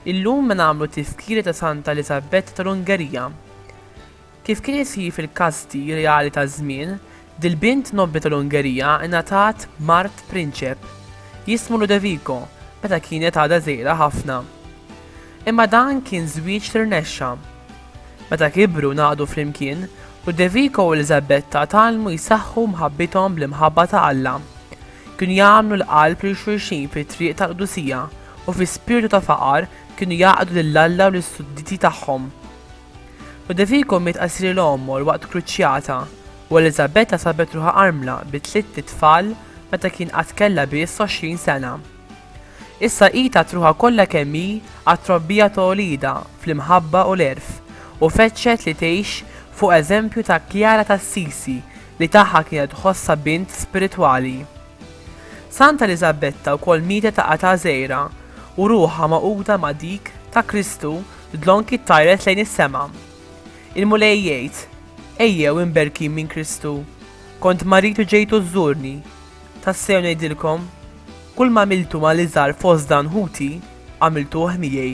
Illum nagħmlu t-tiskiri ta' Santa Eliżabetta tal-Ungerija. Kif kien isir fil-kasti reali taż-żmien, dil-bint nobbli tal-Ungerija ingħatat mart prinċep, jismu Ludovico, meta kienet għadha żgħira ħafna. Imma dan kien żwieġ li rnexxa. Meta kibru u ngħaqdu flimkien, Ludovico u Eliżabetta tgħallmu jsaħħu mħabbithom bl-imħabba ta' Alla. Kienu jagħmlu l-qalb lil xulxin fit-triq tal-qdusija u fi spirtu ta' faqar kienu jgħaqqdu lil Alla u lis-sudditi tagħhom. U Devico miet qasir il-għomor waqt kruċjata, u Eliżabetta sabet ruħha armla bi tlitt itfal meta kien qatt kellha biss għoxrin sena. Issa hi tat ruħha kollha kemm hi għat-trobbija ta' uliedha fl-imħabba u l-għerf, u fettxet li tgħix fuq eżempju ta' Kjara t'Assisi li tagħha kienet tħossha bint spiritwali. Santa Eliżabetta wkoll mietet ta' età żgħira, u ruħha magħquda ma' dik ta' Kristu Dlonki ttajret lejn is-sema. Il-Mulej jgħid, Ejjew imberkin minn Kristu. Kont marid u ġejtu żżurni. Tassew ngħidilkom, Kull m'għamiltu ma' l-iżgħar fost dan ħuti, għamiltuh miegħi.